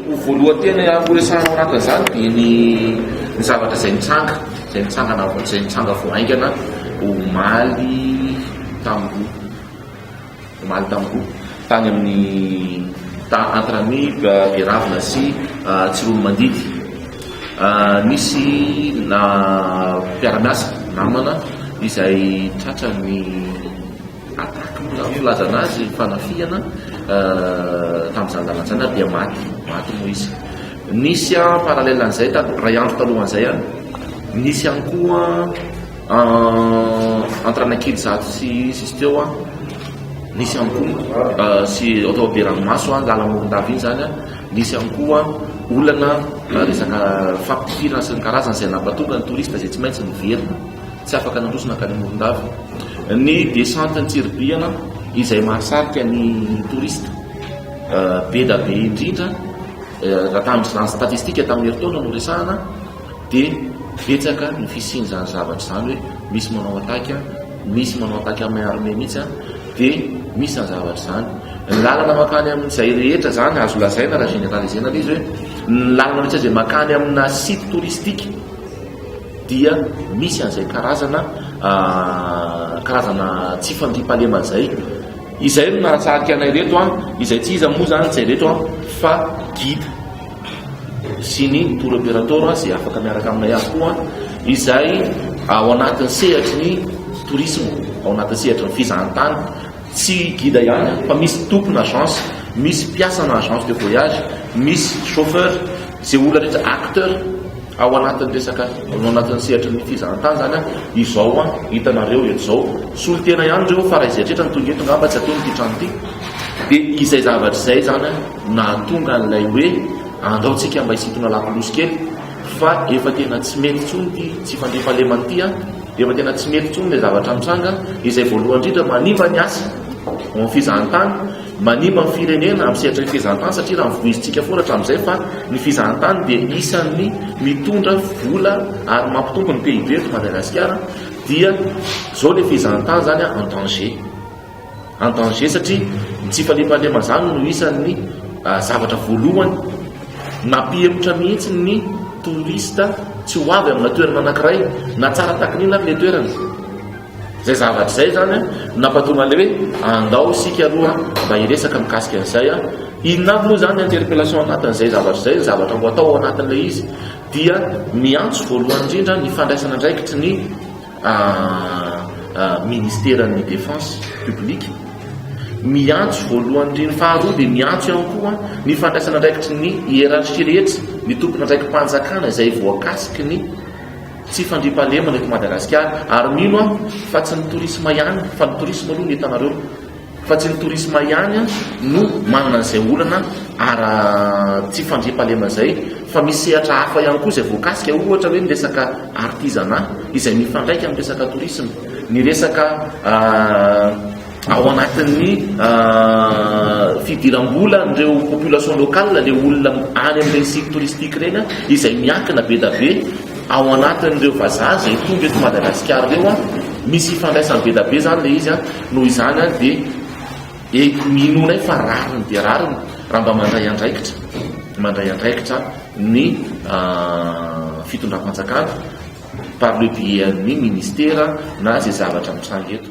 Ho voalohan-tena horesahana ao anatin'izany dia ny ny zavatra izay nitsanga, izay nitsangana vao izay nitsanga vao haingana omaly tamin'ny omaly tamin'ny tany amin'ny ta entre amis Beravina sy Tsiroanomandidy. Nisy na mpiara-miasa namana izay tratran'ny Attaque moa zany filazana azy, ny fanafihana tamin'izany lalana izany ary dia maty, maty Moise. Nisy en parallèle an'izay tato, iray andro talohan'izay any, nisy ihany koa en- entre Anakily zato sy sisy teo an, nisy ihany koa ah, sy atao be ranomaso an, lalamorondava iny izany an, nisy ihany koa olana ah, resaka fampipirana sy ny karazany izay nampatonga ny touriste izay tsy maintsy niverina. Tsy afaka nandroso nankany Morondava. Ny descente an-tsiribihana izay mahasarika ny touriste be da be indrindra raha tamin'izany statistika tamin'ny herintaona no resahana dia betsaka ny fisian'izany zavatra izany hoe misy manao attaque, misy manao attaque amin'ny armée mihitsy dia misy izany zavatra izany. Ny lalana makany amin'izay rehetra izany azo lazaina raha généraliser-na ilay izy hoe ny lalana rehetra izay makany amina site touristique dia misy an'izay karazana karazana tsy fandriampahalemana izay izay no nahatsarika anay reto an izay tsy iza moa zany izay reto an fa guide sy ny tour opérateur izay afaka miaraka aminay azy koa izay ao anatin'ny sehatry ny tourisme ao anatin'ny sehatry ny fizahantany tsy guide ihany fa misy tompony agence misy mpiasana agence de voyage misy chauffeur izay olona rehetra acteur Ao anatin'ny resaka, ao anatin'ny sehatry ny fizahan-tany izany an, izao an, hitanareo eto izao, solontena ihany ireo fa raha izay rehetra no tonga eto angamba tsy hatao ity trano ity. Dia izay zavatra izay izany an, nahatonga an'ilay hoe andraontsika mba hisintona lakolosy kely fa efa tena tsy mety intsony ity tsy fandriampahalemana ity an, efa tena tsy mety intsony ilay zavatra mitranga, izay voalohany indrindra manimba ny asa ao amin'ny fizahan-tany. Manimba ny firenena amin'ny sehatry ny fizahantany satria raha ny voizin-tsika foana hatramin'izay fa ny fizahantany dia isan'ny mitondra vola ary mampitombo ny PIB eto Madagasikara dia izao ilay fizahantany izany en danger. En danger satria ny tsy fandriampahalemana izany no isan'ny ah, zavatra voalohany nampihemotra mihitsy ny touriste tsy ho avy amina toerana anankiray na tsara takin'inona ary ilay toerana. Izay zavatra izay izany no nampahatonga an'ilay hoe andao isika aloha mba hiresaka mikasika an'izay. Inona avy moa izany ny interpellation anatin'izay zavatra izay, ny zavatra ho atao ao anatin'ilay izy dia miantso voalohany indrindra ny fandraisana andraikitry ny ministeran'ny défense publique, miantso voalohany indrindra, faharoa dia miantso ihany koa ny fandraisana andraikitry ny hiérarchie rehetra, ny tompon'andraiki-panjakana izay voakasiky ny Tsy fandriampahalemana eto Madagasikara ary mino aho fa tsy ny tourisme ihany fa ny tourisme aloha no hitanareo fa tsy ny tourisme ihany no manana an'izay olana ara tsy fandriampahalemana izay fa misy sehatra hafa ihany koa izay voakasika ohatra hoe ny resaka artisanat izay mifandraika amin'ny resaka tourisme ny resaka Ao anatin'ny fidiram-bola an'ireo population locale le olona any amin'ireny site touristique ireny izay miankina be da be ao anatin'ireo vazaha izay tonga eto Madagasikara ireo an, misy ifandraisany be da be izany ilay izy an, noho izany an dia inoanay fa rariny dia rariny raha mba mandray andraikitra, mandray andraikitra ny fitondram-panjakana par le biais an'ny ministera na izay zavatra mitranga eto.